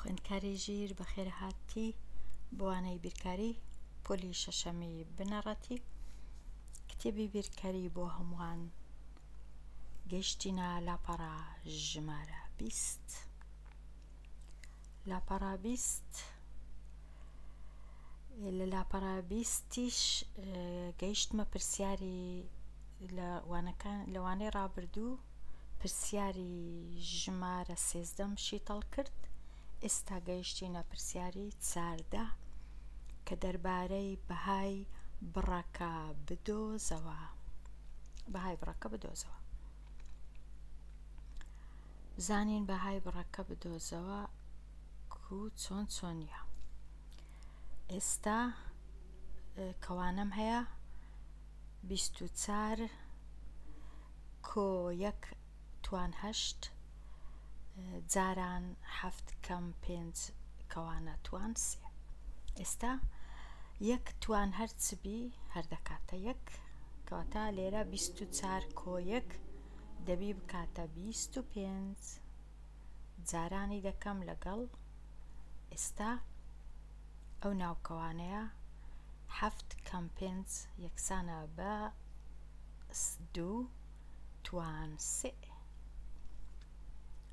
خوێندکاری ژیر بەخێرهاتی بۆوانەی بیرکاری پۆلی شەشەمی بنەڕەتی کتێبی بیرکاری بۆ هەمووان گەشتینە لاپەڕە ژمارە بیست. لاپەڕە بیست لە لاپەڕە بیستیش گەیشتمە پرسیاری لە وانەکان لە وانەی ڕابردوو پرسیاری ژمارە سێزدەم شیتەڵ کرد ئێستا گەیشتینە پرسیاری چاردە کە دەربارەی بەهای بڕەکە بدۆزەوە بەهای بڕەکە بدۆزەوە زانین بەهای بڕەکە بدۆزەوە کو چۆن چۆنیە ئێستا کەوانەم هەیە بیست و چار کۆ یەک توان هەشت جاران حەفت کەم پێنج کەوانە توان سێ ئێستا یەک توان هەرچبی هەردەکاتە یەک کەواتە لێرە بیست و چار کۆ یەک دەبی بکاتە بیست و پێنج جارانی دەکەم لەگەڵ ئێستا ئەو ناوکەوانەیە حەفت کەم پێنج یەکسانە بە دوو توان سئ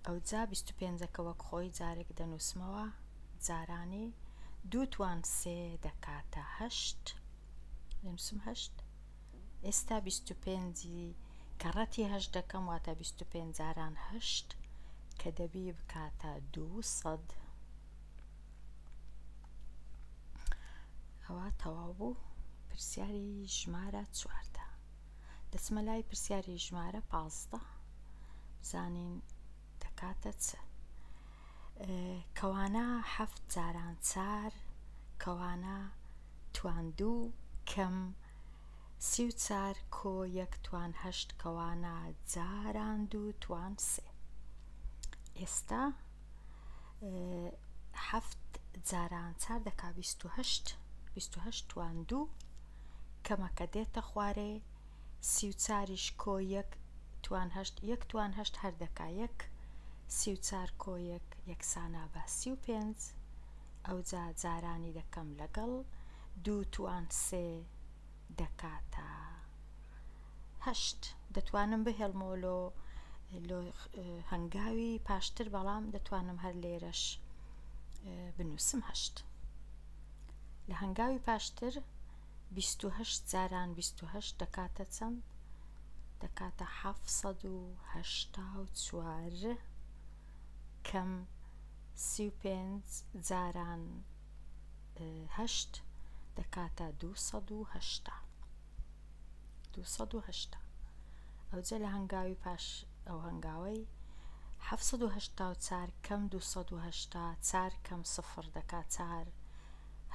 ئەوجا بیست و پێنجەکە وەک خۆی جارێک دەنووسمەوە جارانی دوو توان سێ دەکاتە هەشت دەنووسم هەشت ئێستا بیست و پێنج ی کەڕەتی هەشت دەکەم واتە بیست و پێنج جاران هەشت کە دەبی بکاتە دوو سەد ئەوە تەواو بوو پرسیاری ژمارە چواردە دەچمە لای پرسیاری ژمارە پازدە بزانین دەکاتە چ؟ کەوانە حەفت جاران چار کەوانە توان دوو کەم سی و چار کۆ یەک توان هەشت کەوانە جاران دوو توان سێ ئێستا حەفت جاران چار دەکا بیست و هەشت بیست و هەشت توان دوو کەمەکە دێتە خوارێ سی و چاریش کۆ یەک توان هەشت یەک توان هەشت هەر دەکا یەک سی و چار کۆ یەک یەکسانا بە سی و پێنج ئەوجا جارانی دەکەم لەگەڵ دوو توان سێ دەکاتە هەشت دەتوانم بهێڵمەوە لۆ لۆ هەنگاوی پاشتر بەڵام دەتوانم هەر لێرەش بنووسم هەشت لە هەنگاوی پاشتر بیست و هەشت جاران بیست و هەشت دەکاتە چەند؟ دەکاتە حەفت سەد و هەشتا و چوار کەم سی و پێنج جاران هەشت دەکاتە دوو سەد و هەشتا دوو سەد و هەشتا ئەوجە لە هەنگاوی پاش ئەو هەنگاوەی حەفت سەد و هەشتا و چار کەم دوو سەد و هەشتا چار کەم سفر دەکات چار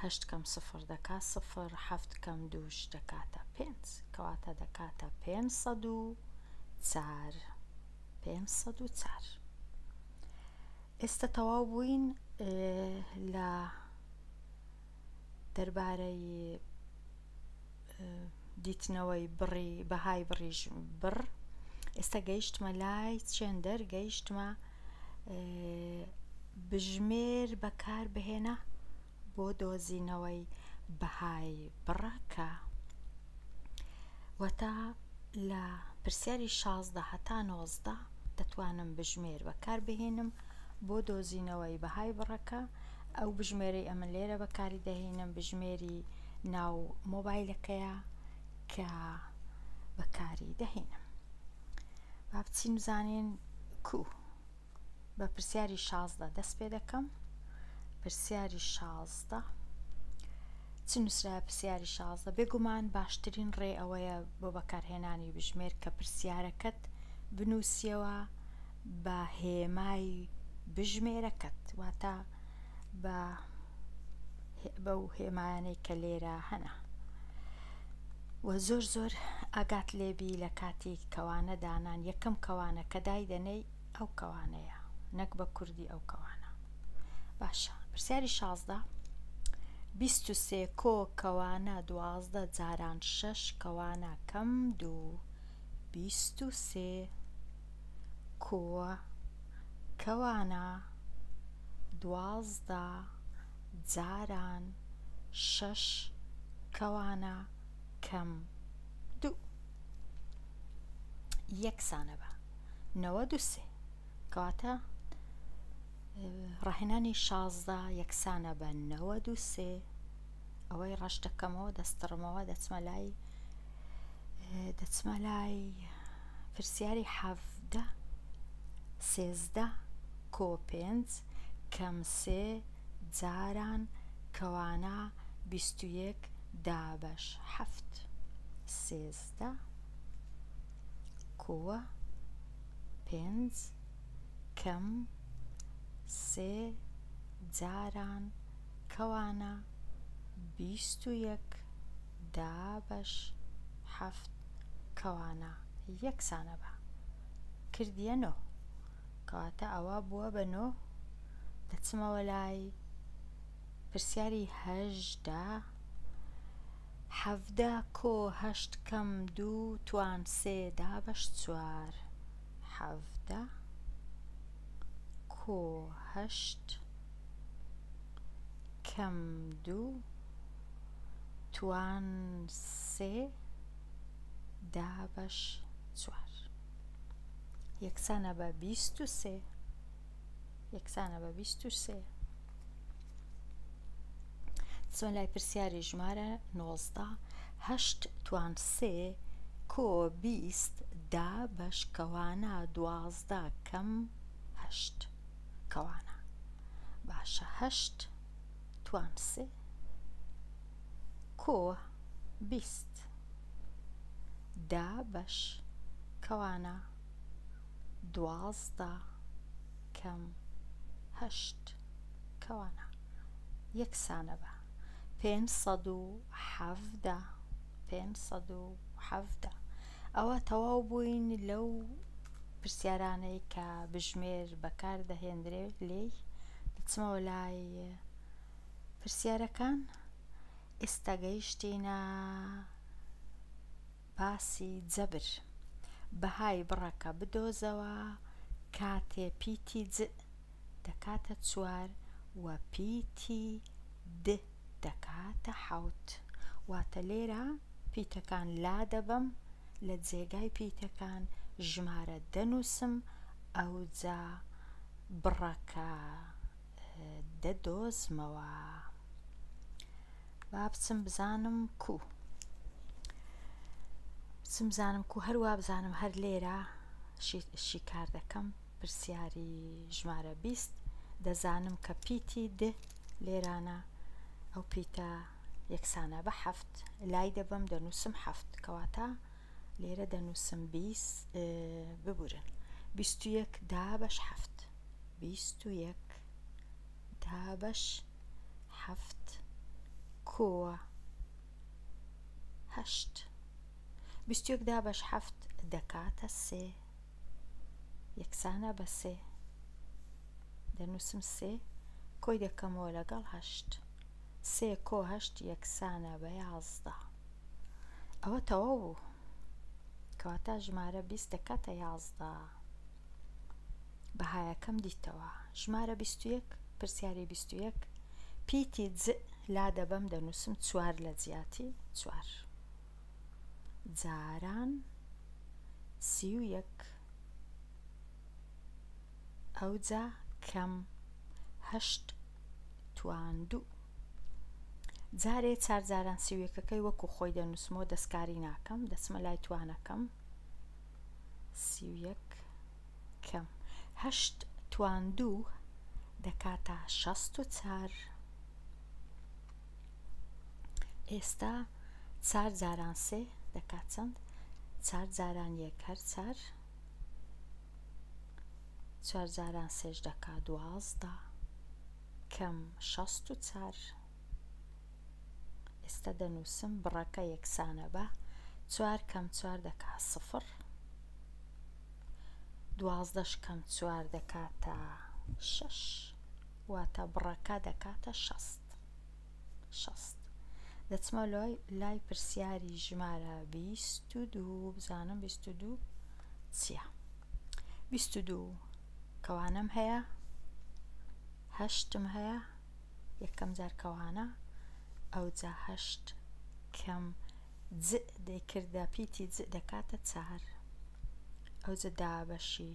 هەشت کەم سفر دەکا سفر، حەفت کەم دووش دەکاتە پێنج، کەواتە دەکاتە پێنج سەد و چار، پێنج سەد و چار. ئێستە تەواو بووین لە دەربارەی دیتنەوەی بڕی بەهای بڕی بڕ ئێستا گەیشتمە لای چێندەر گەیشتمە بژمێر بەکار بهێنە بۆ دۆزینەوەی بەهای بڕەکە وەتا لە پرسیاری شازدە هەتا نۆزدە دەتوانم بژمێر بەکار بهێنم بۆ دۆزینەوەی بەهای بڕەکە ئەو بژمێری ئەمە لێرە بەکاری دەهێنم بژمێری بە ناو مۆبایلەکەیە کە بەکاری دەهێنم با بچین بزانین کو بە پرسیاری شازدە دەست پێ دەکەم پرسیاری شازدە چ نووسرا پرسیاری شازدە بێگومان باشترین ڕێ ئەوەیە بۆ بەکارهێنانی بژمێر کە پرسیارەکەت بنووسیەوە بە هێمای بژمێرەکەت واتە بە بەو هێمایانەی کە لێرە هەنە و زۆر زۆر ئاگات لێبی لە کاتی کەوانە دانان یەکەم کەوانە کە دایدەنەی ئەو کەوانەیە نەک بە کوردی ئەو کەوانە باشە پرسیاری شازدە بیست و سێ کۆ کەوانە دوازدە جاران شەش کەوانە کەم دوو بیست و سێ کووە کەوانە دوازدە جاران شەش کەوانە کەم دوو یەکسانە بە نەوە دوسێ کەواتە ڕاهێنانی شازدە یەکسانە بە نەوە دوسێ ئەوەی ڕەش دەکەمەوە دەستڕمەوە دەچمە لای دەچمە لای پرسیاری حەفدە سێزدە کۆ پێنج کەم سێ جاران کەوانە بیست و یەک دابەش حەفت سێزدە کووە پێنج کەم سێ جاران کەوانە بیست و یەک دا بەش حەفت کەوانە یەکسانە بە. کردیە نۆ. کەواتە ئەوە بووە بە نۆ. دەچمەوە لای پرسیاری هەژدە. حەڤدە کۆ هەشت کەم دوو توان سێ دا بەش چوار. حەڤدە کۆ هەشت. کەم دوو توان سێ دابەش چوار یەکسانە بە بیست و سێ یەکسانە بە بیست و سێ چۆن لای پرسیاری ژمارە نۆزدە هەشت توان سێ کۆ بیست دا بەشکەوانە دوازدە کەم هەشت کەوانە باشە هەشت توان سێ کۆ بیست دا بەش کەوانە دوازدە کەم هەشت کەوانە یەکسانە بە پێنج سەد و حەڤدە پێنج سەد و حەڤدە ئەوە تەواو بووین لەو پرسیارانەی کە بژمێر بەکار دەهێندرێ لێی دەچمەوە لای پرسیارەکان ئێستا گەیشتینە باسی جەبر بەهای بڕەکە بدۆزەوە کاتێ پیتی دەکاتە چوار و پیتی د دەکاتە حەوت. واتە لێرە پیتەکان لادەبەم، لە جێگای پیتەکان ژمارە دەنووسم، ئەوجا بڕەکە دەدۆزمەوە. با بچم بزانم کوو. بچم بزانم کوو، هەر وا بزانم هەر لێرە شیکار دەکەم. پرسیاری ژمارە بیست، دەزانم کە پیتی د لێرانە، ئەو پیتە یەکسانە بە حەفت، لای دەبەم دەنووسم حەفت، کەواتە لێرە دەنووسم بیست، ببورن، بیست و یەک دابەش حەفت، بیست و یەک دابەش حەفت کووە هەشت؟ بیست و یەک دابەش حەفت دەکاتە سێ. یەکسانە بە سێ دەنووسم سێ کۆی دەکەمەوە لەگەڵ هەشت سێ کۆ هەشت یەکسانە بە یازدە ئەوە تەواو بوو کەواتە ژمارە بیست دەکاتە یازدە بەهایەکەم دیتەوە ژمارە بیست و یەک پرسیاری بیست و یەک پیتی لا دەبەم دەنووسم چوار لە جیاتی چوار جاران سی و یەک ئەوجا کەم هەشت تواندوو جارێ چار جاران سی و یەکەکەی وەکو خۆی دەنووسمەوە دەستکاری ناکەم دەچمە لای توانەکەم سی و یەک کەم هەشت تواندوو دەکاتە شەست و چار ئێستا چار جاران سێ دەکات چەند چار جاران یەک هەر چار چار جاران سێش دەکا دوازدە کەم شەست و چار ئێستا دەنووسم بڕەکە یەکسانە بە چوار کەم چوار دەکا سفر دوازدەش کەم چوار دەکاتە شەش واتە بڕەکە دەکاتە شەست. شەست. دەچمە لای پرسیاری ژمارە بیست و دوو بزانم بیست و دوو چییە؟ بیست و دوو کەوانەم هەیە هەشتم هەیە یەکەم جار کەوانە ئەوجا هەشت کەم ج دەیکردە پیتی ج دەکاتە چار ئەوجە دا بەشی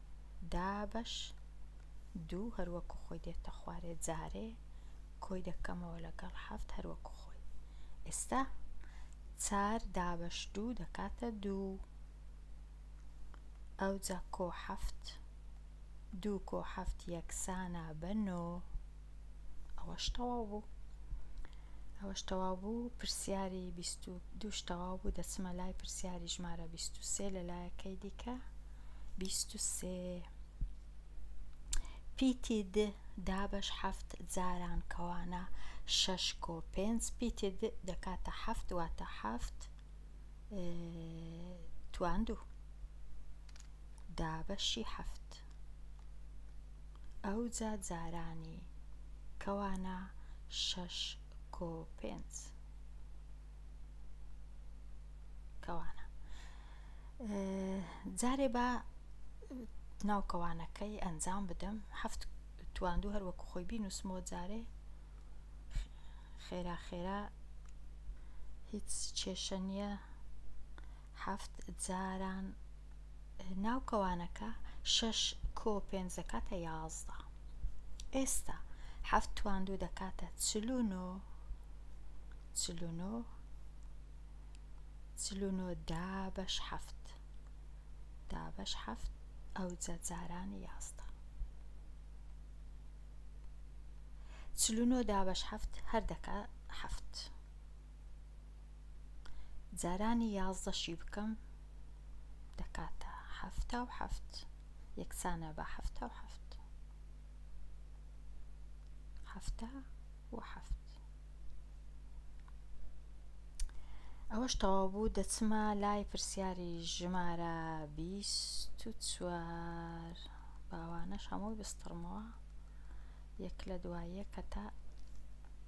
دابەش دوو هەروەکو خۆی دێتە خوارێ جارێ کۆی دەکەمەوە لەگەڵ حەفت هەروەکو خۆی ئێستا چار دابەش دوو دەکاتە دوو ئەوجا کۆ حەفت دوو کۆ حەفت یەکسانە بە نۆ ئەوەش تەواو بوو ئەوەش تەواو بوو پرسیاری بیست و دووش تەواو بوو دەچمە لای پرسیاری ژمارە بیست و سێ لە لایەکەی دیکە بیست و سێ پیتی د دابەش حەفت جاران کەوانە شەش کۆ پێنج پیتی د دەکاتە حەفت واتە حەفت تواندوو دابەشی حەفت ئەوجا جارانی کەوانە شەش کۆ پێنج. کەوانە. جارێ با ناو کەوانەکەی ئەنجام بدەم هەفت تواندو هەر وەکو خۆی بینوسمەوە جارێ خێرا خێرا هیچ کێشە نییە حەفت جاران ناو کەوانەکە شەش کۆ پێنج دەکاتە یازدە ئێستا حەفت توان دوو دەکاتە چل و نۆ چل و نۆ چل و نۆ دابەش حەفت دابەش حەفت ئەوجە جاران یازدە چل و نۆ دابەش حەفت هەر دەکا حەفت جارانی یازدە شی بکەم دەکاتە حەفتا و حەفت یەکسانە بە حەفتا و حەفت حەفتا و حەفت ئەوەش تەواو بوو دەچمە لای پرسیاری ژمارە بیست و چوار باوانەش هەمووی بستڕمەوە یەک لە دوایە کە تا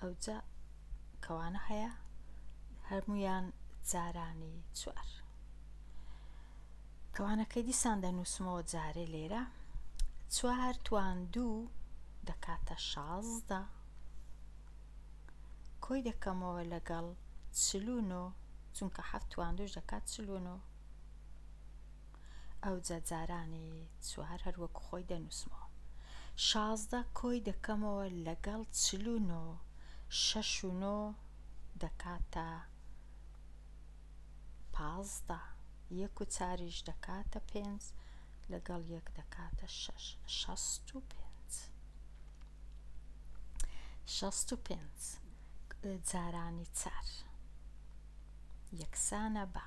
ئەوجا کەوانە هەیە هەرمویان جارانی چوار کەوانەکەی دیسان دەنووسمەوە جارێ لێرە چوار توان دوو دەکاتە شازدە کۆی دەکەمەوە لەگەڵ چلونۆ چونکە هەفتوان دوش دەکات چلونۆ ئەوجا جارانی چوار هەر وەکو خۆی دەنووسمەوە. شازدە کۆی دەکەمەوە لەگەڵ چل و نۆ، شەش و نۆ دەکاتە پازدە، یەک و چاریش دەکاتە پێنج، لەگەڵ یەک دەکاتە شەش، شەست و پێنج. شەست و پێنج جارانی چار یەکسانە بە.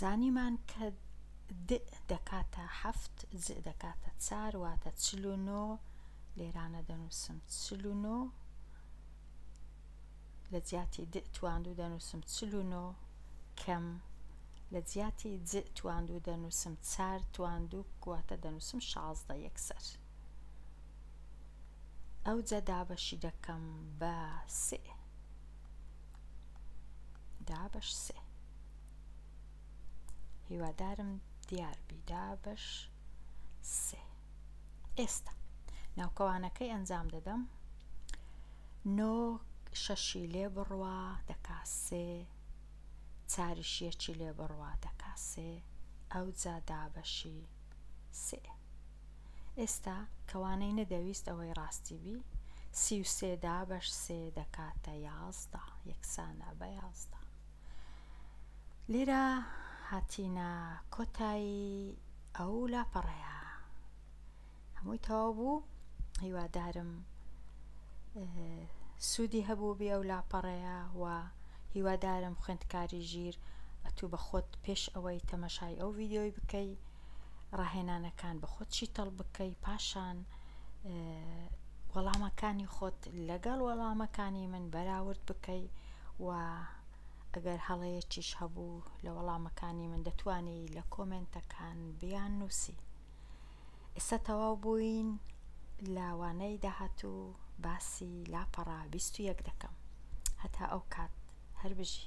زانیمان کە دئ دەکاتە حەفت، جئ دەکاتە چار، واتە چل و نۆ، لێرانە دەنووسم چل و نۆ، لە جیاتی دئ تواندوو دەنووسم چل و نۆ، کەم، لە جیاتی جئ تواندوو دەنووسم چار تواندووک، واتە دەنووسم شازدە یەکسەر. ئەوجە دابەشی دەکەم بە سئ، دابەش سئ. هیوادارم دیار بی دا بەش سێ ئێستا ناوکەوانەکەی ئەنجام دەدەم نۆ شەشی لێ بڕوا دەکا سێ چاریشیەکی لێ بڕوا دەکا سێ ئەو جا دابەشی سێ ئێستا کەوانەی نەدەویست ئەوەی ڕاستی بی سی و سێ دابەش سێ دەکاتە یازدە یەکسانە بە یازدە لێرە هاتینە کۆتایی ئەو لاپەڕەیە هەمووی تەواو بوو هیوادارم سوودی هەبوو بێ ئەو لاپەڕەیە و هیوادارم خوێندکاری ژیر ئەتوو بە خۆت پێش ئەوەی تەمەشای ئەو ڤیددیۆی بکەی ڕاهێنانەکان بە خۆت شیتەڵ بکەی پاشان وەڵامەکانی خۆت لەگەڵ وەڵامەکانی من بەراورد بکەی و ئەگەر هەڵەیەکیش هەبوو لە وەڵامەکانی من دەتوانی لە کۆمنتەکان بیان نووسی ئێستا تەواو بووین لاوانەی داهاتوو باسی لاپەڕا 21 دەکەم هەتا ئەو کات هەر بژی